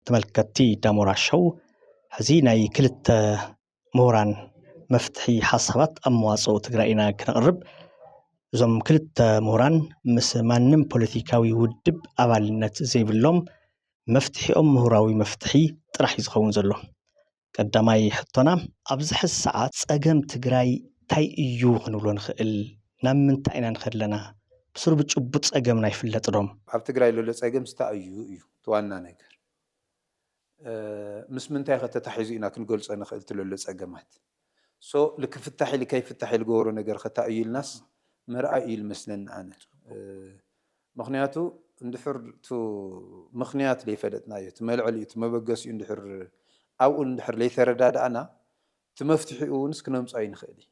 ተመልከትቲ ዳሞራ ሸው ሕዚ ናይ ክልተ ምሁራን መፍትሒ ሓሳባት ኣብ መዋጽኦ ትግራይ ኢና ክነቕርብ። እዞም ክልተ ምሁራን ምስ ማንም ፖለቲካዊ ውድብ ኣባልነት ዘይብሎም፣ መፍትሒኦም ምሁራዊ መፍትሒ ጥራሕ እዩ ዝኸውን ዘሎ። ቀዳማይ ሕቶና ኣብዚ ሕዚ ሰዓት ፀገም ትግራይ ታይ እዩ ክንብሎ ንኽእል? ናብ ምንታይ ኢና ንኸድ ለና? ብስሩ ብጭቡጥ ፀገምና ይፍለጥ ዶ? ኣብ ትግራይ ለሎ ፀገም ስታ እዩ እዩ እቲ ዋና ነገር ምስ ምንታይ ከ ተታሒዙ ኢና ክንገልፆ ንኽእል እቲ ለሎ ፀገማት so ልክፍታሕ ኢሊ ከይፍታሕ ኢሊ ገበሮ ነገር ከ ታይ እዩ ኢልናስ ምርኣይ እዩ ልመስለኒ ኣነ ምኽንያቱ እንድሕር እቱ ምኽንያት ለይፈለጥናዮ፣ እቲ መልዕሊኡ፣ እቲ መበገሲኡ እንድሕር ኣብኡ እንድሕር ለይተረዳዳእና እቲ መፍትሒኡ እውንስ ክነምፆ ኣይንኽእል እዩ።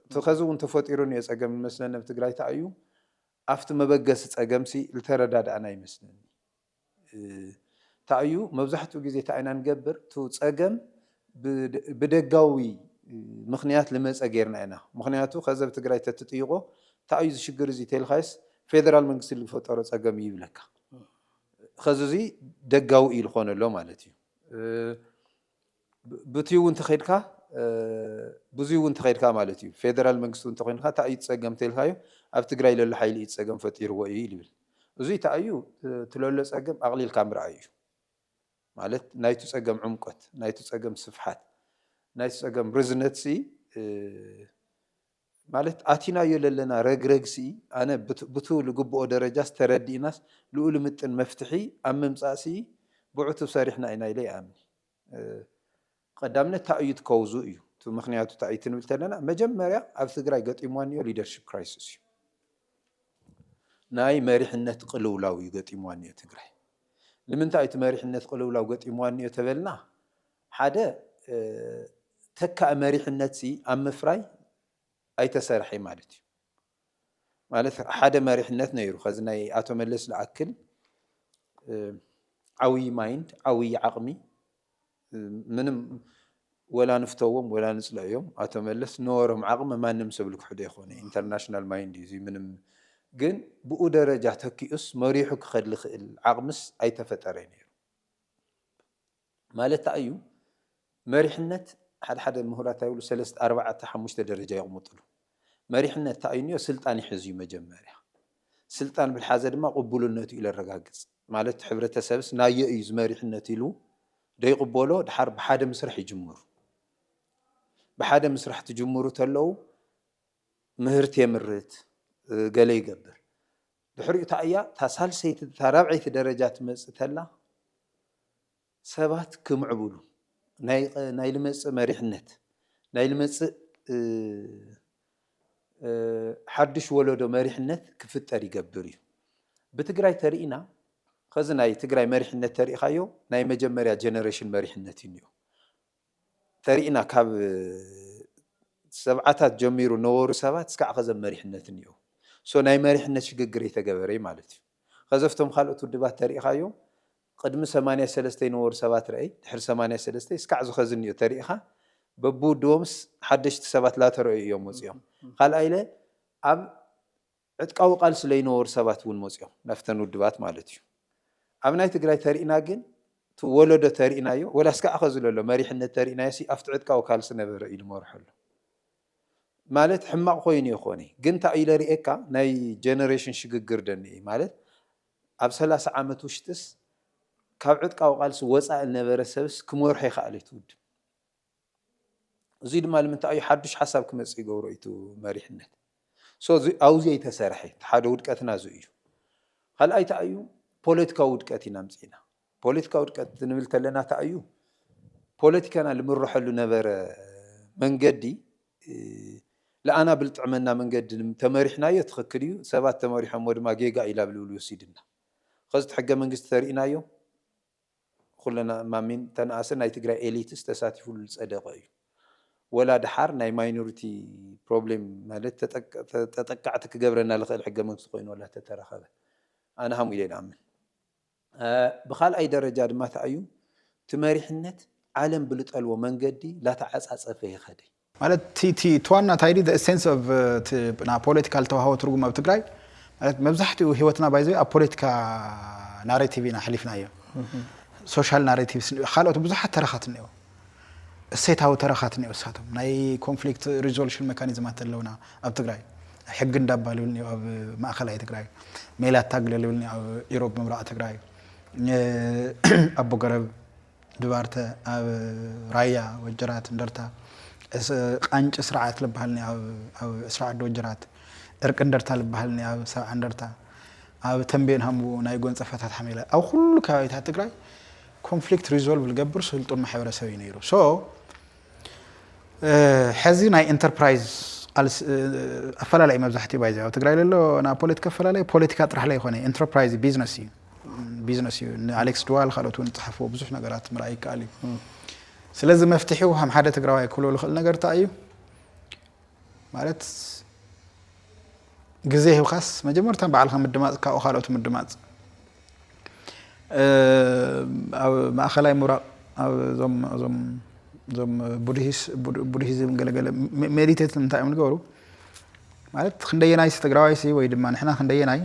እቲ ኸዚ እውን ተፈጢሩ እኒኦ ፀገም ዝመስለኒ ኣብ ትግራይ ታይ እዩ፣ ኣፍቲ መበገሲ ፀገምሲ ልተረዳዳእና ኣይመስለንን። ታይ እዩ መብዛሕትኡ ግዜ ታይ ኢና ንገብር እቱ ፀገም ብደጋዊ ምክንያት ልመፀ ገይርና ኢና ምክንያቱ ከዘብ ትግራይ ተትጥይቆ ታይ እዩ ዝሽግር እዙይ ተልካይስ ፌደራል መንግስቲ ልፈጠሮ ፀገም እዩ ይብለካ ከዚ እዙይ ደጋዊ እዩ ልኮነሎ ማለት እዩ። ብትዩ ውን ተኸድካ ብዙይ ውን ተኸድካ ማለት እዩ ፌደራል መንግስቲ ውን ተኾይንካ ታይ እዩ ትፀገም ተልካዮ ኣብ ትግራይ ለሎ ሓይሊ እዩ ትፀገም ፈጢርዎ እዩ ልብል እዙይ ታይ እዩ ትለሎ ፀገም ኣቕሊልካ ምርኣይ እዩ ማለት ናይቱ ፀገም ዑምቆት ናይቱ ፀገም ስፍሓት ናይቱ ፀገም ርዝነትሲ ማለት ኣቲናዮ ለለና ረግረግሲ ኣነ ብቱ ልግብኦ ደረጃስ ተረዲእናስ ልኡ ልምጥን መፍትሒ ኣብ ምምፃእሲ ብዕቱብ ሰሪሕና ኢና ኢለ ይኣምን። ቐዳምነት ታይ እዩ እቲ ኮውዙ እዩ እቲ ምክንያቱ ታይ እዩ ትንብል ተለና መጀመርያ ኣብዚ ትግራይ ገጢምዋ እኒኦ ሊደርሺፕ ክራይስስ እዩ ናይ መሪሕነት ቕልውላው እዩ ገጢምዋ እኒኦ ትግራይ ንምንታይ እቲ መሪሕነት ቕልውላው ገጢምዋ እኒኦ ተበልና ሓደ ተካኢ መሪሕነት ሲ ኣብ ምፍራይ ኣይተሰርሐይ ማለት እዩ ማለት ሓደ መሪሕነት ነይሩ ከዚ ናይ ኣቶ መለስ ዝኣክል ዓብይ ማይንድ ዓብይ ዓቕሚ ምንም ወላ ንፍተዎም ወላ ንፅልእዮም ኣቶ መለስ ነበሮም ዓቕሚ ማንም ሰብ ልክሕዶ ይኮነ ኢንተርናሽናል ማይንድ እዩ ምንም ግን ብኡ ደረጃ ተኪኡስ መሪሑ ክኸድ ልኽእል ዓቕምስ ኣይተፈጠረ ነይሩ ማለት ታይ እዩ መሪሕነት ሓደ ሓደ ምሁራት ታይ ይብሉ ሰለስተ ኣርባዕተ ሓሙሽተ ደረጃ የቅምጥሉ መሪሕነት ታይ እዩ እንዮ ስልጣን ይሕዝ እዩ መጀመርያ ስልጣን ብልሓዘ ድማ ቅቡልነቱ እዩ ለረጋግፅ ማለት እቲ ሕብረተሰብስ ናዮ እዩ እዚ መሪሕነት ኢሉ ዶ ይቅቦሎ ድሓር ብሓደ ምስራሕ ይጅምሩ ብሓደ ምስራሕ ትጅምሩ ተለው ምህርቲ የምርት ገለ ይገብር ድሕሪኡ እታ እያ እታ ሳልሰይቲ እታ ራብዐይቲ ደረጃ ትመጽእ ተላ ሰባት ክምዕብሉ ናይ ልመጽእ መሪሕነት ናይ ልመጽእ ሓዱሽ ወለዶ መሪሕነት ክፍጠር ይገብር እዩ ብትግራይ ተርኢና ከዚ ናይ ትግራይ መሪሕነት ተሪኢኻዮ ናይ መጀመርያ ጀነሬሽን መሪሕነት እዩ እኒኦ ተሪእና ካብ ሰብዓታት ጀሚሩ ነበሩ ሰባት እስካዕ ከዘም መሪሕነት እኒኦው so ናይ መሪሕነት ሽግግር እይተገበረ እዩ ማለት እዩ ከዘፍቶም ካልኦት ውድባት ተሪእኻዮም ቕድሚ ሰማንያ ሰለስተ ይነበሩ ሰባት ረእይ ድሕሪ ሰማንያ ሰለስተ እስካዕ ዝኸዚ እኒኦ ተሪእኻ በብውድቦምስ ሓደሽቲ ሰባት ላተረእዩ እዮም ወፂኦም ኻልኣይለ ኣብ ዕጥቃዊ ቃልሲ ለይነበሩ ሰባት እውን መጺኦም ናብተን ውድባት ማለት እዩ። ኣብ ናይ ትግራይ ተሪእና ግን እቲ ወለዶ ተሪእናዮ ወላ እስካዕ ኸዚ ለሎ መሪሕነት ተሪእናዮሲ ኣብቲ ዕጥቃዊ ካልሲ ነበረ ኢሉ መርሖ ኣሎ ማለት ሕማቕ ኾይኑ የኾነ ግን እንታይ ኢለ ሪኤካ ናይ ጀነሬሽን ሽግግር ደኒኤ ማለት ኣብ ሰላሳ ዓመት ውሽጥስ ካብ ዕጥቃዊ ቃልሲ ወፃኢ ልነበረ ሰብስ ክመርሖ ይኸኣል እቲ ውድብ እዙይ ድማ ልምንታይ እዩ ሓዱሽ ሓሳብ ክመፅእ ይገብሮ እዩ እቲ መሪሕነት so እዚ ኣብኡ ዘይተሰርሐ እቲ ሓደ ውድቀትና እዚ እዩ ካልኣይ እንታይ እዩ ፖለቲካዊ ውድቀት ኢና ኣምፂእና ፖለቲካዊ ውድቀት ንብል እንተለና እንታይ እዩ ፖለቲካና ልምረሐሉ ነበረ መንገዲ ልኣና ብልጥዕመና መንገዲ ተመሪሕናዮ ትኽክል እዩ ሰባት ተመሪሖሞ ድማ ጌጋ እዩ ላብ ልብል ወሲድና ኸዚ እቲ ሕገ መንግስቲ ተሪእናዮ ኩልና ማሚን ተንኣስን ናይ ትግራይ ኤሊትስ ተሳቲፉሉ ዝፀደቀ እዩ ወላ ደሓር ናይ ማይኖሪቲ ፕሮብሌም ማለት ተጠቃዕቲ ክገብረና ልኽእል ሕገ መንግስቲ ኮይኑ ወላ ተተረኸበ ኣነ ሃምኡ ኢለ ድኣምን ብካልኣይ ደረጃ ድማ ታኣዩ ትመሪሕነት ዓለም ብልጠልዎ መንገዲ ላተዓፃፀፈ የኸደይ ማለት እቲ እቲ እቲ ዋና እንታይ ድዩ the essence of እቲ ናይ ፖለቲካ ዝተዋህቦ ትርጉም ኣብ ትግራይ ማለት መብዛሕትኡ ህይወትና ባይ ዘ ዌይ ኣብ ፖለቲካ ናሬቲቭ ኢና ኣሕሊፍናዮ ሶሻል ናሬቲቭስ ካልኦት ብዙሓት ተረኻት እኒኦ እሴታዊ ተረኻት እኒኦ እሳቶም ናይ ኮንፍሊክት ሪዞሉሽን ሜካኒዝማት ኣለውና ኣብ ትግራይ ሕጊ እንዳባ ልብል እኒኦ ኣብ ማእኸላይ ትግራይ ሜላ ታግለ ልብል እኒኦ ኣብ ኢሮብ ምብራቕ ትግራይ እ፣ ኣቦ ገረብ ድባርተ ኣብ ራያ ወጀራት እንደርታ ቃንጭ ስርዓት ልብሃልኒ ኣብ ዕስራ ዓዲ ወጀራት ዕርቂ እንደርታ ልብሃልኒ ኣብ ሰብዓ እንደርታ ኣብ ተምቤን ሃምቡ ናይ ጎንጸፈታት ሓሜላ ኣብ ኩሉ ከባቢታት ትግራይ ኮንፍሊክት ሪዞልቭ ልገብር ስልጡን ማሕበረሰብ እዩ ነይሩ ሶ ሕዚ ናይ ኢንተርፕራይዝ ኣፈላለይ መብዛሕትኡ ባይዘ ኣብ ትግራይ ለሎ ናብ ፖለቲካ ኣፈላለይ ፖለቲካ ጥራሕ ለይኮነ ኢንተርፕራይዝ ቢዝነስ እዩ ቢዝነስ እዩ። ንኣሌክስ ድዋል ካልኦት እውን ዝፀሓፍዎ ብዙሕ ነገራት ምርኣይ ይከኣል እዩ። ስለዚ መፍትሒው ከም ሓደ ትግራዋይ ክብሎ ዝኽእል ነገር እንታይ እዩ ማለት ግዜ ሂብካስ መጀመርታ ባዕልካ ምድማፅ ካብኡ ካልኦት ምድማፅ ኣብ ማእኸላይ ምብራቕ እዞም እዞም እዞም ቡድሂዝም ገለገለ ሜዲቴት እንታይ እዮም ዝገበሩ ማለት ክንደየናይ ትግራዋይሲ ወይ ድማ ንሕና ክንደየናይ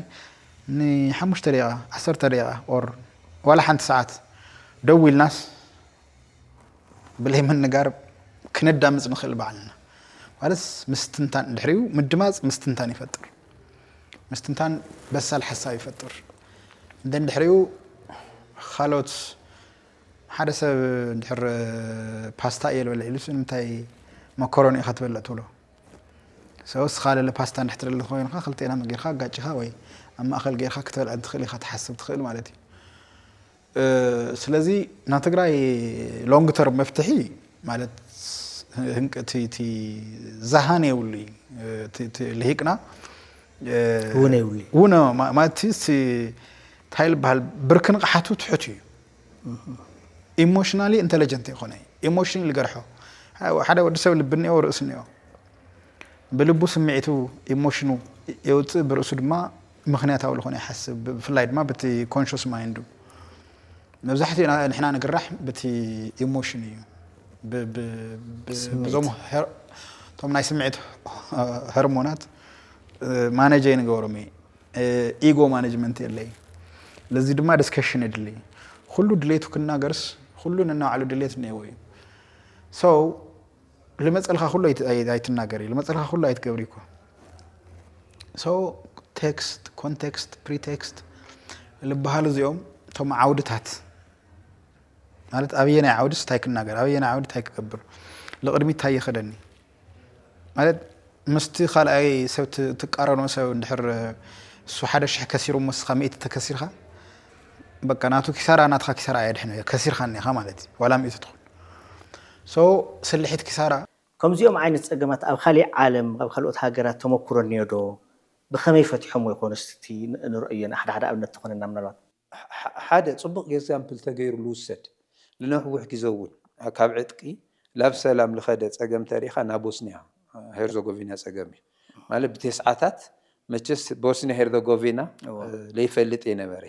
ን ሓሙሽተ ደቂቃ ዓሰርተ ደቂቃ or ዋላ ሓንቲ ሰዓት ደው ኢልናስ ብለይ ምንጋር ክነዳምጽ ንኽእል ባዕልና ማለት ምስትንታን ድሕሪኡ ምድማጽ ምስትንታን ይፈጥር ምስትንታን በሳል ሓሳብ ይፈጥር እንደን ድሕሪኡ ካልኦት ሓደ ሰብ ድሕር ፓስታ እየ ልበለ ኢሉስ ንምንታይ መኮሮኒ ኢኻ ትበልዕ ትብሎ So እስኻ ለለ ፓስታ እንድሕር ደለኻ ኮይንኻ ክልቴናም ጌርካ ኣጋጭኻ ወይ ኣብ ማእኸል ጌርካ ክትበልዕ እንትኽእል ኢኻ ትሓስብ ትኽእል ማለት እዩ። ስለዚ ናይ ትግራይ ሎንግ ተርም መፍትሒ ማለት ህንቅቲ ዛሃን የብሉ ልሂቅና ውነ ውነ ማለትስ እንታይ ልበሃል ብርኪ ንቕሓቱ ትሑት እዩ ኢሞሽናሊ ኢንተለጀንት ኣይኮነ ኢሞሽን ልገርሖ ሓደ ወዲ ሰብ ልቢ እኒኦ ርእሲ እኒኦ ብልቡ ስምዒቱ ኢሞሽኑ የውፅእ ብርእሱ ድማ ምክንያታዊ ዝኾነ ይሓስብ ብፍላይ ድማ በቲ ኮንሽስ ማይንዱ መብዛሕትኡ ንሕና ንግራሕ በቲ ኢሞሽን እዩ እዞም እቶም ናይ ስምዒት ሀርሞናት ማነጀ ንገብሮም እዩ ኢጎ ማነጅመንት የለይ ለዚ ድማ ዲስከሽን የድሊ ኩሉ ድሌቱ ክናገርስ ኩሉ ንናባዕሉ ድሌት እኒኤዎ እዩ ሰው ልመፀልካ ኩሉ ኣይትናገሪ ልመፀልካ ኩሉ ኣይትገብሪ እኮ ሰው ቴክስት ኮንቴክስት ፕሪቴክስት ልበሃሉ እዚኦም እቶም ዓውድታት ማለት ኣበየናይ ዓውድስ እንታይ ክናገር ኣበየናይ ዓውዲ እንታይ ክገብር ልቅድሚት እንታይ ይኸደኒ ማለት ምስቲ ካልኣይ ሰብ ትቃረኖ ሰብ እንድሕር እሱ ሓደ ሽሕ ከሲሩ እሞ እስኻ ሚእቲ ተከሲርካ በቃ ናቱ ኪሳራ ናትካ ኪሳራ ኣየድሕን እዮ ከሲርካ እኒኻ ማለት እዩ ዋላ ሚእቲ ትኹን ሶ ስልሒት ኪሳራ ከምዚኦም ዓይነት ጸገማት ኣብ ካሊእ ዓለም ኣብ ካልኦት ሃገራት ተመኩሮ እኒኦዶ? ብከመይ ፈቲሖምዎ ይኾኑ እስቲ ንርእዮ ንሓደ ሓደ ኣብነት ተኾነና ምናልባት። ሓደ ጽቡቕ ጌዛምፕል ተገይሩ ልውሰድ፣ ልነዊሕ ግዘ እውን ካብ ዕጥቂ ላብ ሰላም ልኸደ ጸገም ተሪኻ ናይ ቦስንያ ሄርዞጎቪና ጸገም እዩ። ማለት ብቴስዓታት መቸስ ቦስንያ ሄርዞጎቪና ለይፈልጥ እየ ነበረ።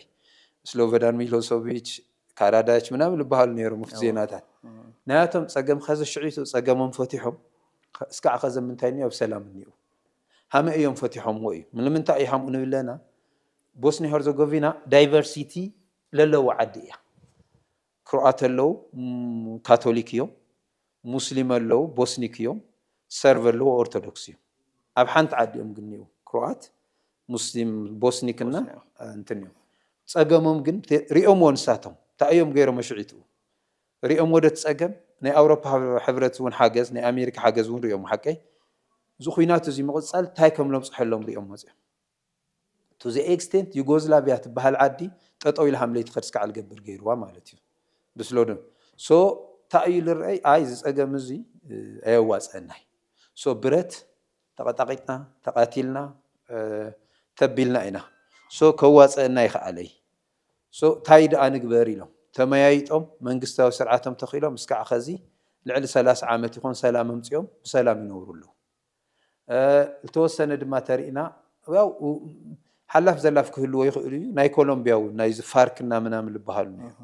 ስሎቨዳን ሚሎሶቪች፣ ካራዳች ምናምን ልበሃሉ ነይሮም ኣብቲ ዜናታት። ናያቶም ጸገም ኸዚ ሽዕቱ ጸገሞም ፈቲሖም እስካዕ ኸዚ ምንታይ እኒኦ ኣብ ሰላም እኒእው። ሃመ እዮም ፈቲሖምዎ እዩ። ልምንታይ እዩ ሃምኡ ንብለና ቦስንያ ሄርዞጎቪና ዳይቨርሲቲ ለለዋ ዓዲ እያ ክሮኣት ኣለው ካቶሊክ እዮም ሙስሊም ኣለው ቦስኒክ እዮም ሰርቭ ኣለው ኦርቶዶክስ እዮም ኣብ ሓንቲ ዓዲ እዮም ግንው ክሮኣት ሙስሊም ቦስኒክ እና እንትን እዮም ጸገሞም ግን ሪኦምዎ ንሳቶም እንታይ እዮም ገይሮም መሽዒትኡ ሪኦም ወደ ትጸገም ናይ ኣውሮፓ ሕብረት እውን ሓገዝ ናይ ኣሜሪካ ሓገዝ እውን ሪኦም ሓቀይ እዚ ኩናት እዚ ምቕጻል እንታይ ከም ለብጽሐሎም ሪኦም መጽኦም to the extent ዩጎዝላቪያ ትባሃል ዓዲ ጠጠው ኢላ ሃምለይ ትኸድ ስካዕ ልገብር ገይርዋ ማለት እዩ ብስሎዶ so ታይ እዩ ልረኣይ ኣይ እዚ ፀገም እዙይ ኣየዋፀእናይ so ብረት ተቐጣቒጥና ተቓቲልና ተቢልና ኢና so ከዋፀእና ኣይኸኣለይ so ታይ ድኣ ንግበር ኢሎም ተመያይጦም መንግስታዊ ስርዓቶም ተኺሎም እስካዕ ኸዚ ልዕሊ ሰላሳ ዓመት ይኾን ሰላም ኣምፂኦም ብሰላም ይነብሩ ኣለው። ዝተወሰነ ድማ ተሪእና ያው ሓላፍ ዘላፍ ክህልዎ ይኽእሉ እዩ ናይ ኮሎምቢያ እውን ናይዚ ፋርክ እና ምናምን ልበሃሉ ነይሩ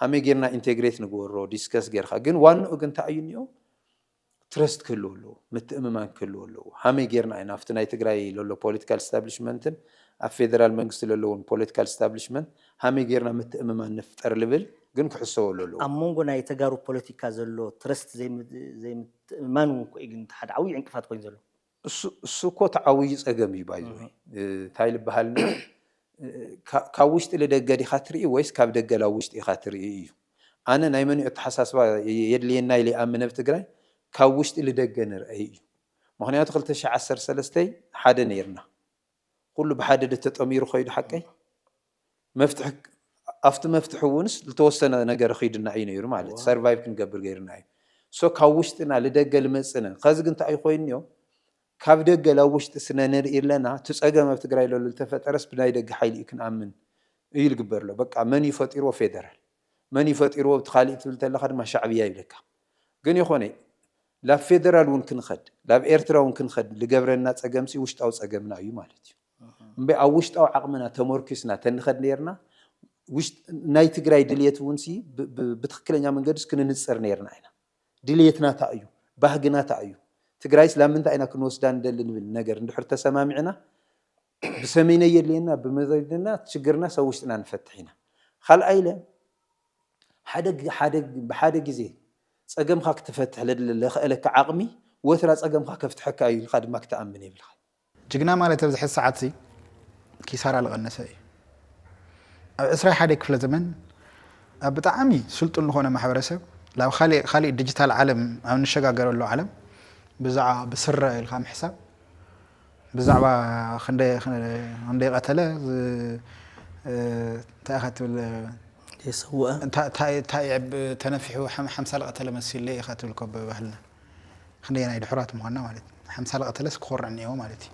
ሃመይ ጌርና ኢንቴግሬት ንግበሮ ዲስከስ ጌርካ ግን ዋንኡ ግን እንታይ እዩ እኒኦ ትረስት ክህልዎ ኣለዎ ምትእምማን ክህልዎ ኣለዎ ሃመይ ጌርና ኢና ኣብቲ ናይ ትግራይ ለሎ ፖለቲካል ስታብሊሽመንትን ኣብ ፌደራል መንግስቲ ለለውን ፖለቲካል ስታብሊሽመንት ሃመይ ጌርና ምትእምማን ንፍጠር ልብል ግን ክሕሰበሉ ኣለዎ። ኣብ መንጎ ናይ ተጋሩ ፖለቲካ ዘሎ ትረስት ዘይምት ምትእምማን እውን እኮ እዩ ግን እቲ ሓደ ዓብዪ ዕንቅፋት ኮይኑ ዘሎ። እሱ እሱ እኮ እቲ ዓብዪ ፀገም እዩ ባይ ዘ ዌይ እንታይ ልበሃል እንበር ካ ካብ ውሽጢ ልደገ ዲኻ ትርኢ ወይስ ካብ ደገ ላብ ውሽጢ ኢኻ ትርኢ እዩ ኣነ ናይ መን እዩ ኣተሓሳስባ የድልየና ኢለ ይኣምን ኣብ ትግራይ ካብ ውሽጢ ልደገ ንርኣይ እዩ ምኽንያቱ ክልተ ሽሕ ዓሰርተ ሰለስተ ሓደ ነይርና ኹሉ ብሓደደ ተጠሚሩ ከይዱ ሓቀይ መፍትሒ ኣብቲ መፍትሒ እውንስ ዝተወሰነ ነገር ኺድና እዩ ነይሩ ማለት እዩ ሰርቫይቭ ክንገብር ገይርና እዩ ሶ ካብ ውሽጥና ልደገ ልመጽነ ኸዚ ግን እንታይ እዩ ኮይኑዮ ካብ ደገ ላብ ውሽጢ ስነ ንርኢ ኣለና እቲ ጸገም ኣብ ትግራይ ለሎ ልተፈጠረስ ብናይ ደገ ሓይሊ እዩ ክንኣምን እዩ ልግበር ኣሎ በቃ መን እዩ ፈጢርዎ ፌደራል መን እዩ ፈጢርዎ እቲ ኻሊእ ትብል ተለኻ ድማ ሻዕብያ ይብለካ ግን ይኾነ ላብ ፌደራል እውን ክንኸድ ላብ ኤርትራ እውን ክንኸድ ልገብረና ጸገምሲ ውሽጣዊ ጸገምና እዩ ማለት እዩ እምበይ ኣብ ውሽጣዊ ዓቕምና ተመርኲስና ተንኸድ ነይርና ናይ ትግራይ ድልየት እውን ሲ ብትኽክለኛ መንገድስ ክንንፅር ነይርና ኢና። ድልየትና ታይ እዩ? ባህግና ታይ እዩ? ትግራይስ ላብ ምንታይ ኢና ክንወስዳ ንደሊ ንብል ነገር እንድሕር ተሰማሚዕና ብሰሚነይ የድልየና ብመዘድና ሽግርናስ ኣብ ውሽጥና ንፈትሕ ኢና። ኻልኣይ ኢለ ሓደ ሓደ ብሓደ ግዜ ፀገምኻ ክትፈትሕ ለድለ ለኸእለካ ዓቕሚ ወትራ ፀገምኻ ከፍትሐካ እዩ ኢልኻ ድማ ክትኣምን የብልኻን። ጅግና ማለት ኣብዚ ሕዚ ሰዓትዚ ኪሳራ ልቐነሰ እዩ። ኣብ ዕስራይ ሓደይ ክፍለ ዘመን ኣብ ብጣዕሚ ስልጡን ልኾነ ማሕበረሰብ ላብ ኻሊእ ኻሊእ ድጅታል ዓለም ኣብ ንሸጋገረሉ ዓለም ብዛዕባ ብስረ ኢልካ ምሕሳብ ብዛዕባ ኽንደይ ኽንደይ ቐተለ እንታይ ኢኻ ትብል የሰውኣ እንታይ እንታይ ተነፊሑ ሓምሳ ልቐተለ መሲሉ ኢኻ ትብል እኮ ብባህልና። ክንደየናይ ድሑራት ምዃንና ማለት እዩ። ሓምሳ ዝቐተለስ ክኾርዕ እኒኤዎ ማለት እዩ።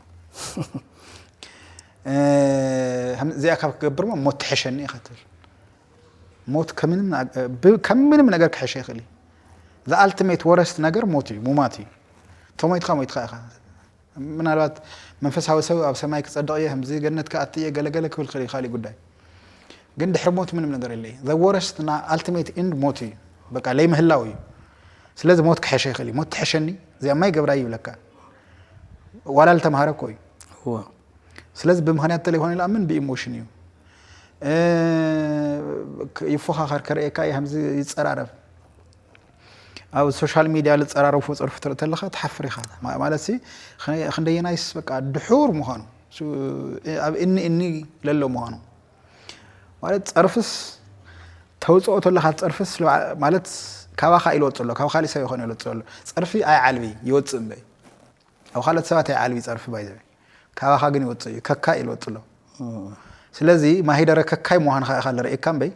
እዚኣ ካብ ክገብር እሞ ሞት ትሕሸኒ ኢኻ ትብል። ሞት ከም ምንም ነገር ክሕሸ ይኽእል እዩ። ዝኣልቲሜት ወረስት ነገር ሞት እዩ፣ ሙማት እዩ። ተሞይትካ ሞይትካ ኢኻ። ምናልባት መንፈሳዊ ሰብ ኣብ ሰማይ ክጸድቕ እየ ከምዚ ገነት ክኣቲ እየ ገለ ገለ ክብል ክኽእል እዩ ካሊእ ጉዳይ ግን ድሕሪ ሞት ምንም ነገር የለይ the worst እና ultimate end ሞት እዩ በቃ ለይምህላው እዩ ስለዚ ሞት ክሐሸ ይኽእል እዩ ሞት ትሐሸኒ እዚኣ ማይ ገብራይ ይብለካ ዋላ ልተምሃረ እኮ እዩ እዎ ስለዚ ብምክንያት ተለይኮነ ልኣምን ብኢሞሽን እዩ እ፣ ክ- ይፎኻኸር ከርእየካ እየ ከምዚ ይጸራረብ ኣብ ሶሻል ሚድያ ልፀራረፉ ፀርፊ ትርኢ ተለኻ ትሓፍር ኢኻ ማለትሲ ክንደየናይስ በቃ ድሑር ምዃኑ ኣብ እኒ እኒ ለሎ ምዃኑ ማለት ፀርፍስ ተውፅኦ ተለካ ፀርፍስ ማለት ካባካ ኢሉ ወፅእ ኣሎ ካብ ካሊእ ሰብ ይኮነ ወፅእ ኣሎ ፀርፊ ኣይዓልቢ ይወፅእ እምበይ ኣብ ካልኦት ሰባት ኣይዓልቢ ፀርፊ ባይዘበ ካባካ ግን ይወፅእ እዩ ከካይ ኢሉ ወፅእ ኣሎ ስለዚ ማሂደረ ከካይ ምዃንካ ኢካ ዝርእየካ እምበይ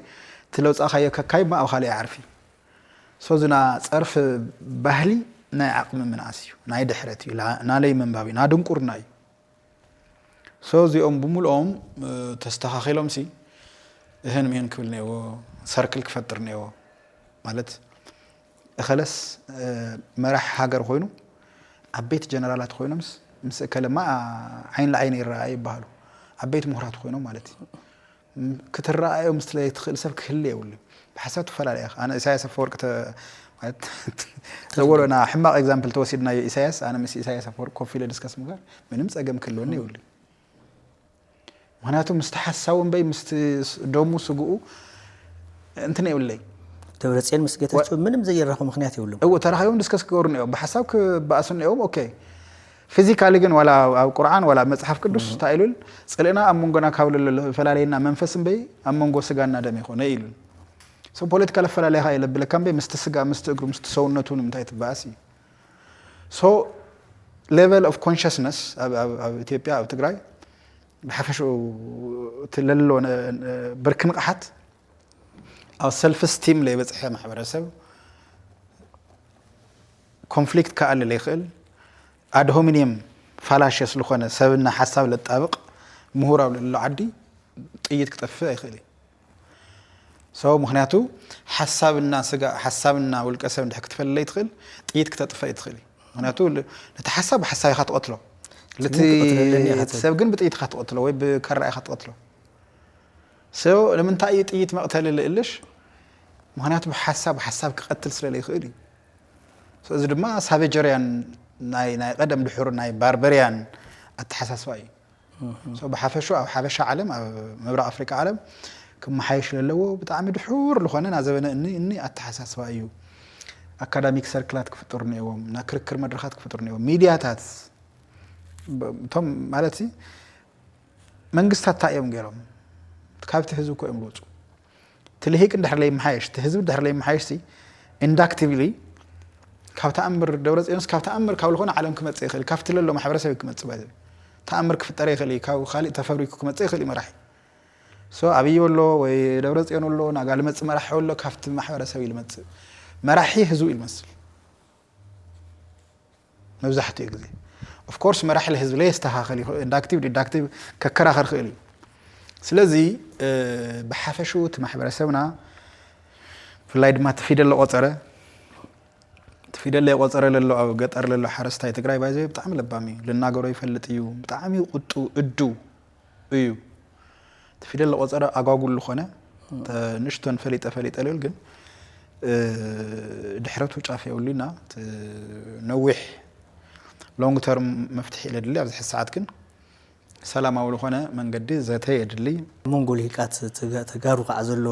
እቲ ለውፃእካዮ ከካይ ማ ኣብ ካሊእ ኣይዓርፊ ሶዝና ጸርፊ ባህሊ ናይ ዓቅሚ ምንኣስ እዩ ናይ ድሕረት እዩ ናለይ ምንባብ እዩ ናድንቁርና እዩ ሶ እዚኦም ብምልኦም ተስተኻኺሎም ሲ እህን ምህን ክብል ነዎ ሰርክል ክፈጥር ነዎ ማለት እኸለስ መራሕ ሃገር ኮይኑ ዓበይቲ ጀነራላት ኮይኖምስ ምስ እከለማ ዓይን ለዓይን ይረኣ ይበሃሉ ዓበይቲ ምሁራት ኮይኖም ማለት እዩ ክትረኣዮ ምስ ለይትኽእል ሰብ ክህሊ የብሉን ብሓሳብ ትፈላለ ኢኻ ኣነ ኢሳያስ ኣፈወርቂ ተ ማለት ዘበሎ ና ሕማቕ ኤግዛምፕል ተወሲድናዮ ኢሳያስ ኣነ ምስ ኢሳያስ ኣፈወርቂ ኮፍ ኢለ ዲስከስ ምግባር ምንም ጸገም ክህልወኒ የብሉን ምክንያቱ ምስቲ ሓሳዊ እምበይ ምስቲ ደሙ ስግኡ እንትን የብለይ ደብረጽዮን ምስ ጌታቸው ምንም ዘየራኹ ምክንያት የብሎም እዎ ተራኺቦም ዲስከስ ክገብሩ ነኦም ብሓሳብ ክበኣሱ ነኦም ኦኬ Physically ግን ዋላ ኣብ ቁርዓን ዋላ ኣብ መጽሓፍ ቅዱስ እንታይ ኢሉል ጽልእና ኣብ መንጎና ካብ ለሎ ዝፈላልየና መንፈስ እምበይ ኣብ መንጎ ስጋና ደም ኣይኮነ ኢሉል So ፖለቲካ ለፈላልያካ እዩ ለብለካ እምበይ ምስቲ ስጋ ምስቲ እግሩ ምስቲ ሰውነቱ ንምንታይ ትበኣስ እዩ So level of consciousness ኣብ ኣብ ኣብ ኢትዮጵያ ኣብ ትግራይ ብሓፈሽኡ እቲ ለሎ ብርኪ ንቕሓት ኣብ ሰልፍ ስቲም ለይበጽሐ ማሕበረሰብ ኮንፍሊክት ክኣሊ ለይክእል ኣድሆሚንየም ፋላሸስ ልኾነ ሰብና ሓሳብ ለጣብቕ ምሁር ኣብ ለሎ ዓዲ ጥይት ክጠፍእ ኣይክእል እዩ ሰው ምክንያቱ ሓሳብና ስጋ ሓሳብና ውልቀ ሰብ እንድሕ ክትፈል ለይትክእል ጥይት ክተጥፈ ይትክእል እዩ ምክንያቱ ነቲ ሓሳብ ብሓሳብ ኢኻ ትቐትሎ ልቲ ሰብ ግን ብጥይት ኢኻ ትቐትሎ ወይ ብካራ ኢኻ ትቐትሎ ሰው ንምንታይ እዩ ጥይት መቕተሊ ልእልሽ ምክንያቱ ብሓሳብ ሓሳብ ክቐትል ስለለይክእል እዩ እዚ ድማ ሳቬጀርያን ናይ ናይ ቀደም ድሑር ናይ ባርበርያን ኣተሓሳስባ እዩ። ሶ ብሓፈሹ ኣብ ሓበሻ ዓለም ኣብ ምብራቕ ኣፍሪቃ ዓለም ክመሓየሽ ለለዎ ብጣዕሚ ድሑር ዝኾነ ና ዘበነ እኒ እኒ ኣተሓሳስባ እዩ። ኣካዳሚክ ሰርክላት ክፍጥሩ ነይዎም፣ ና ክርክር መድረኻት ክፍጥሩ ነይዎም፣ ሚድያታት እቶም ማለት መንግስታት እንታይ እዮም ገይሮም ካብቲ ህዝቢ እኮ እዮም ዝወፁ እቲ ልሂቅ እንድሕር ለይመሓየሽ እቲ ህዝቢ እንድሕር ለይመሓየሽሲ ኢንዳክቲቭሊ ካብ ተኣምር ደብረፅዮንስ ካብ ተኣምር ካብ ዝኾነ ዓለም ክመፅእ ይኽእል ካብቲ ለሎ ማሕበረሰብ እዩ ክመፅእ ባይ ተኣምር ክፍጠር ይኽእል እዩ ካብ ካሊእ ተፈብሪኩ ክመፅእ ይኽእል እዩ መራሒ ሶ ኣብይ ኣሎ ወይ ደብረፅዮን ኣሎ ናጋ ልመፅእ መራሒ ኣሎ ካብቲ ማሕበረሰብ እዩ ልመፅእ መራሒ ህዝቡ እዩ ልመስል መብዛሕትኡ ግዜ of course መራሒ ልህዝቢ ለየስተኻኸል ይኽእል እንዳክቲቭ ዲዳክቲቭ ከከራኸር ክእል እዩ ስለዚ ብሓፈሽኡ እቲ ማሕበረሰብና ብፍላይ ድማ እቲ ፊደል ለቆፀረ እቲ ፊደል ለቆፀረ ለሎ ኣብ ገጠር ለሎ ሓረስታይ ትግራይ ባይዘ ብጣዕሚ ለባም እዩ ልናገሮ ይፈልጥ እዩ ብጣዕሚ ቁጡ እዱ እዩ እቲ ፊደል ለቆፀረ ኣጓጉል ልኾነ ንእሽቶን ፈሊጠ ፈሊጠ ልብል ግን ድሕረቱ ጫፍ የብሉና ነዊሕ ሎንግ ተርም መፍትሒ ኢለ ድሊ ኣብዚ ሕዚ ሰዓት ግን ሰላማዊ ልኾነ መንገዲ ዘተ የድሊ። ኣብ መንጎ ልሂቃት ተጋሩ ከዓ ዘሎ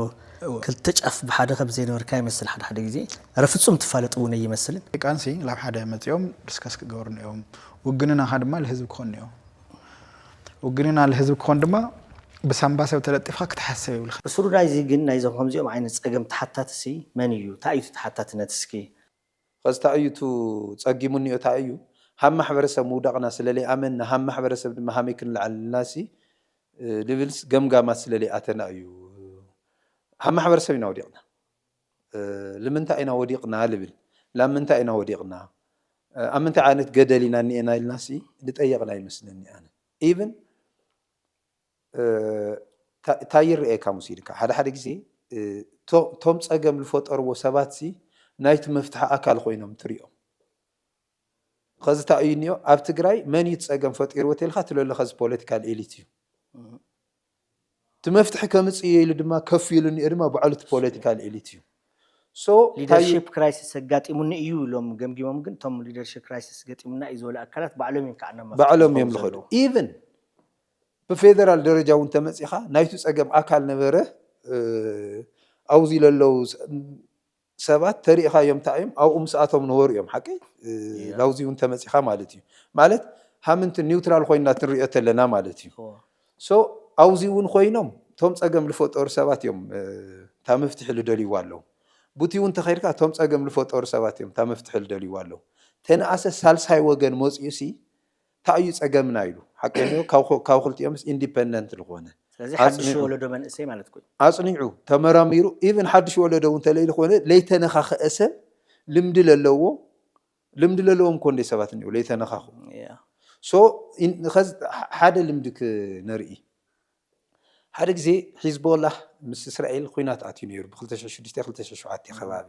ክልተ ጫፍ ብሓደ ከም ዘይነበርካ ይመስል ሓደ ሓደ ግዜ ረ ፍፁም ትፋለጥ እውን ኣይመስልን። ሊቃንሲ ላብ ሓደ መፂኦም ድስከስ ክገብሩ እኒኦም ውግንናኻ ድማ ልህዝቢ ክኾን እኒኦ። ውግንና ልህዝቢ ክኾን ድማ ብሳንባ ሰብ ተለጢፍካ ክትሓስብ የብልካን። ብስሩ ናይዚ ግን ናይዞም ከምዚኦም ዓይነት ጸገም ተሓታትሲ መን ኢዩ? ታይ ኢዩቲ ተሓታትነት እስኪ? ኸዚ ታይ ኢዩቱ ጸጊሙኒኦ ታይ ኢዩ ሃብ ማሕበረሰብ ምውዳቕና ስለለይኣመንና ሃብ ማሕበረሰብ ድማ ሃመይ ክንልዓል ኢልናሲ ልብልስ ገምጋማት ስለለይኣተና ኢዩ ሃብ ማሕበረሰብ ኢና ወዲቕና። ልምንታይ ኢና ወዲቕና ልብል ላብ ምንታይ ኢና ወዲቕና ኣብ ምንታይ ዓይነት ገደል ኢና እኒኤና ኢልናሲ ልጠየቕና ይመስለኒ ኣነ ኢቭን ታይ ይረኤካ ሙሲልካ ሓደ ሓደ ግዜ ቶም ፀገም ልፈጠርዎ ሰባትሲ ናይቲ መፍትሒ ኣካል ኾይኖም ትሪኦም። ኸዚ ታይ እዩ እንዮ ኣብ ትግራይ መን እዩ እቲ ፀገም ፈጢርዎ ተልካ ትሎ ኣለካ እዚ ፖለቲካል ኤሊት እዩ እቲ መፍትሒ ከምፅእ እየ ኢሉ ድማ ከፍ ኢሉ እንኦ ድማ ባዕሉ እቲ ፖለቲካል ኤሊት እዩ so ታይ እዩ ሊደርሺፕ ክራይሲስ ኣጋጢሙኒ እዩ ኢሎም ገምጊሞም ግን እቶም ሊደርሺፕ ክራይሲስ ገጢሙና እዩ ዝበሉ ኣካላት ባዕሎም እዮም ከዓ ናብ መፍትሒ ባዕሎም እዮም ዝኸዱ ዝኸዱ ዘለዉ። ኢቭን ብፌደራል ደረጃ እውን ተመፂኻ ናይቲ ፀገም ኣካል ነበረ እ፣ ኣብዚ ለለዉ ስ- ሰባት ተሪኢኻዮም ታእዮም ኣብኡ ምስ ኣቶም ነበሩ እዮም ሓቀይ ላውዚ እውን ተመጺኻ ማለት እዩ ማለት ሃምንትን ኒውትራል ኮይና ትንሪኦ ተለና ማለት እዩ so ኣውዚ እውን ኮይኖም ቶም ጸገም ልፈጠሩ ሰባት እዮም እታ መፍትሒ ልደልይዋ ኣለው ቡቲ እውን ተኸድካ ቶም ጸገም ልፈጠሩ ሰባት እዮም እታ መፍትሒ ልደልይዋ ኣለው ተነኣሰ ሳልሳይ ወገን መጺኡ ሲ ታይ እዩ ፀገምና ኢሉ ሓቀይኡ ካብ ክልቲኦምስ ኢንዲፐንደንት ልኾነ ስለዚ ሓዱሽ ወለዶ መንእሰይ ማለትኩ እዩ። ኣፅኒዑ ተመራሚሩ ኢቭን ሓዱሽ ወለዶ እውን ተለይልኾነ ለይተነኻኸአ ሰብ ልምዲ ለለዎ ልምዲ ለለዎም ኮንደይ ሰባት እኒኦ ለይተነኻኹ ሶ ኸዚ ሓደ ልምዲ ክነርኢ ሓደ ግዜ ሒዝቦላህ ምስ እስራኤል ኹናት ኣትዩ ነይሩ ብ ክልተ ሽሕን ሽዱሽተን ክልተ ሽሕን ሸውዓተን ከባቢ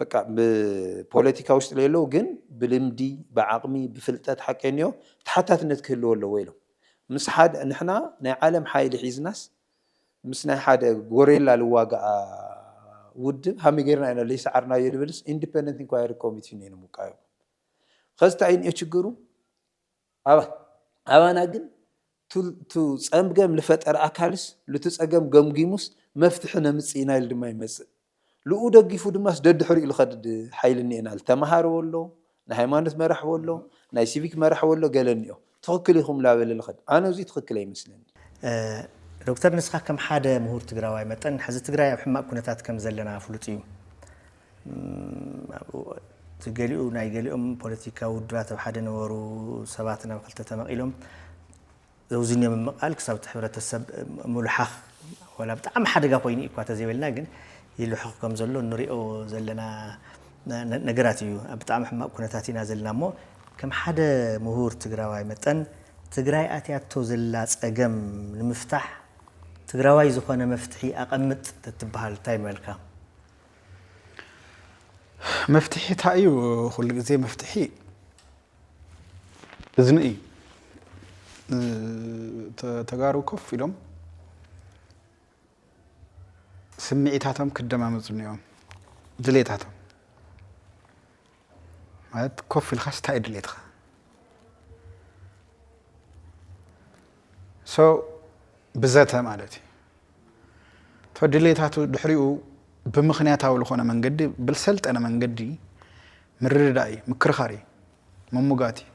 በቃ ብፖለቲካ ውሽጢ ለየለዉ ግን ብልምዲ፣ ብዓቕሚ፣ ብፍልጠት ሓቀይንዮ ተሓታትነት ክህልዎ ኣለዎ ኢሎም። ምስ ሓደ ንሕና ናይ ዓለም ሓይሊ ሒዝናስ ምስ ናይ ሓደ ጎሬላ ልዋጋኣ ውድብ ሃመይ ገይርና ኢና ለይሰዓርናዮ ልብልስ ኢንዲፐንደንት ኢንኳየሪ ኮሚቲ ኔሩ ምውቃዮም። ኸዚ ታይንዮ ችግሩ? ኣባና ግን ቱ ፀምገም ልፈጠር ኣካልስ ልቱ ፀገም ገምጊሙስ መፍትሒ ነምፅእ ኢና ኢሉ ድማ ይመፅእ። ልኡ ደጊፉ ድማስ ደድሕሪኡ ልኸድድ ሓይሊ እኒኤና ልተምሃረ ወሎ፣ ናይ ሃይማኖት መራሒ ወሎ፣ ናይ ሲቪክ መራሒ ወሎ ገለ እኒኦ። ትኽክል ኢኹም ላበለ ልኸድ። ኣነ እዙይ ትኽክል ኣይመስለኒን። ዶክተር ንስኻ ከም ሓደ ምሁር ትግራዋይ መጠን ሕዚ ትግራይ ኣብ ሕማቕ ኩነታት ከም ዘለና ፍሉጥ እዩ። እቲ ገሊኡ ናይ ገሊኦም ፖለቲካዊ ውድባት ኣብ ሓደ ነበሩ ሰባት ናብ ክልተ ተመቒሎም ዘውዝኞ ምምቓል ክሳብ እቲ ሕብረተሰብ ምሉሓኽ ዋላ ብጣዕሚ ሓደጋ ኮይኑ እዩ እኳ ተዘይበልና ግን ይልሑኽ ከም ዘሎ ንሪኦ ዘለና ነገራት እዩ። ኣብ ብጣዕሚ ሕማቕ ኩነታት ኢና ዘለና እሞ ከም ሓደ ምሁር ትግራዋይ መጠን ትግራይ ኣትያቶ ዘላ ፀገም ንምፍታሕ ትግራዋይ ዝኾነ መፍትሒ ኣቐምጥ ተትበሃል እንታይ ምበልካ? መፍትሒ እንታይ እዩ? ኩሉ ግዜ መፍትሒ እዝኒ እዩ። ተጋሩ ኮፍ ኢሎም ስምዒታቶም ክደማመፁ እኒኦም ድሌታቶም ማለት ኮፍ ኢልካስ እንታይ ድሌትኻ ሶ ብዘተ ማለት እዩ እቶ ድሌታቱ ድሕሪኡ ብምክንያታዊ ዝኾነ መንገዲ ብልሰልጠነ መንገዲ ምርድዳእ እዩ ምክርኻር እዩ ምሙጋት እዩ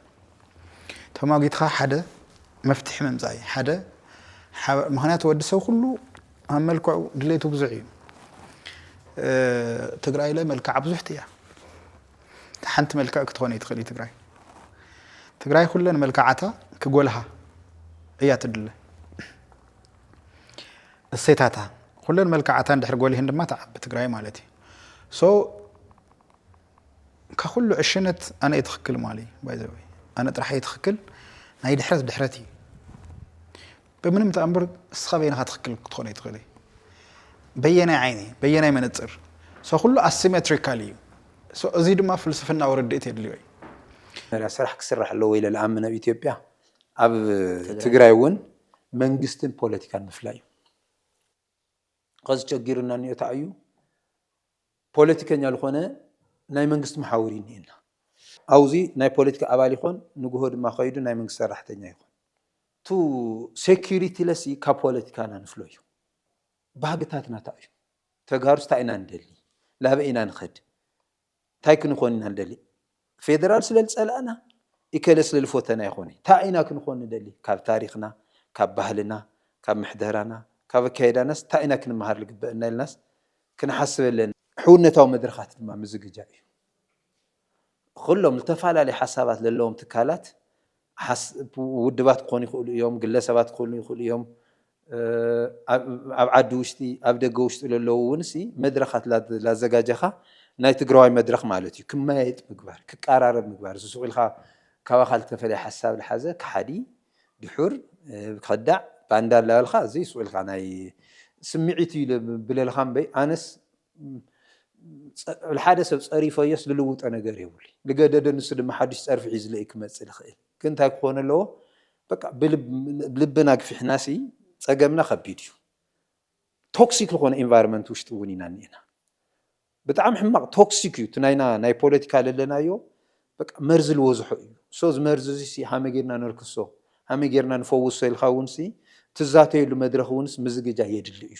ተሟጊትኻ ሓደ መፍትሒ ምምፃእ እዩ ሓደ ምክንያቱ ወዲ ሰብ ኩሉ ኣብ መልክዑ ድሌቱ ብዙሕ እዩ ትግራይ ለ መልክዓ ብዙሕቲ እያ ሓንቲ መልክዕ ክትኾነ ትኽእል እዩ ትግራይ ትግራይ ኩለን መልክዓታ ክጎልሃ እያ ትድለ እሴታታ ኩለን መልክዓታ እንድሕር ጎልህን ድማ ተዓቢ ትግራይ ማለት እዩ ሶ ካብ ኩሉ ዕሽነት ኣነ እየ ትኽክል ማለ ባይዘወይ ኣነ ጥራሕ እየ ትኽክል ናይ ድሕረት ድሕረት እዩ ብምንም ተኣምር እስኻ በይንኻ ትኽክል ክትኾን ኣይትኽእልይ በየናይ ዓይኒ በየናይ መነፅር ሰው ኩሉ ኣሲሜትሪካል እዩ እዚ ድማ ፍልስፍናዊ ርድኢት የድልዮ እዩ መጀመርያ ስራሕ ክስራሕ ኣለዎ ኢለ ልኣምን ኣብ ኢትዮጵያ ኣብ ትግራይ እውን መንግስትን ፖለቲካን ምፍላይ እዩ ኸዚ ቸጊሩና እኒኦ ታይ እዩ ፖለቲከኛ ልኾነ ናይ መንግስቲ መሓውር እዩ እኒኤና። ኣውዚ ናይ ፖለቲካ ኣባል ይኾን ንጉሆ ድማ ከይዱ ናይ መንግስቲ ሰራሕተኛ ይኾን። እቱ ሴኩሪቲለሲ ካብ ፖለቲካና ንፍሎ እዩ። ባህግታትና ታይ እዩ? ተጋሩስ ታይ ኢና ንደሊ? ላበይ ኢና ንኸድ? ታይ ክንኾን ኢና ንደሊ? ፌደራል ስለልፀላእና ኢከለ ስለልፎተና ኣይኮነይ ታይ ኢና ክንኾን ንደሊ ካብ ታሪኽና ካብ ባህልና ካብ ምሕደራና ካብ ኣካይዳናስ ታይ ኢና ክንመሃር ልግበእና ኢልናስ ክንሓስበለን ሕውነታዊ መድረኻት ድማ ምዝግጃእ እዩ ኹሎም ልተፋላለይ ሓሳባት ለለዎም ትካላት ሓስ ውድባት ክኾኑ ይኽእሉ እዮም፣ ግለሰባት ክኾኑ ይኽእሉ እዮም፣ ኣብ ዓዲ ውሽጢ ኣብ ደገ ውሽጢ ለለዉ እውንሲ መድረኻት ላዘጋጀኻ ናይ ትግራዋይ መድረኽ ማለት እዩ ክመያየጥ ምግባር፣ ክቃራረብ ምግባር፣ እዚ ሱቕ ኢልካ ካባኻ ልተፈለየ ሓሳብ ልሓዘ ከሓዲ፣ ድሑር፣ ከዳዕ፣ ባንዳ ላበልካ እዚ ሱቕ ኢልካ ናይ ስምዒት እዩ ልብለልኻ እምበይ ኣነስ ጸዕል ሓደ ሰብ ጸሪፈዮስ ልልውጦ ነገር የብሉይ ልገደደ ንሱ ድማ ሓዱሽ ጸርፊ ሒዝለይ ክመጽእ ልኽእል ግን ታይ ክኾን ኣለዎ በቃ ብልብና ግፊሕናሲ ጸገምና ከቢድ እዩ ቶክሲክ ዝኾነ ኤንቫይሮመንት ውሽጢ እውን ኢና እኒኤና ብጣዕሚ ሕማቕ ቶክሲክ እዩ እቲ ናይና ናይ ፖለቲካ ለለናዮ በቃ መርዚ ልወዝሖ እዩ so እዚ መርዚ እዚ ሲ ሃመይ ጌርና ነልክሶ ሃመይ ጌርና ንፈውሶ ኢልካ እውን ሲ ትዛተየሉ መድረኽ እውንስ ምዝግጃ የድሊ እዩ።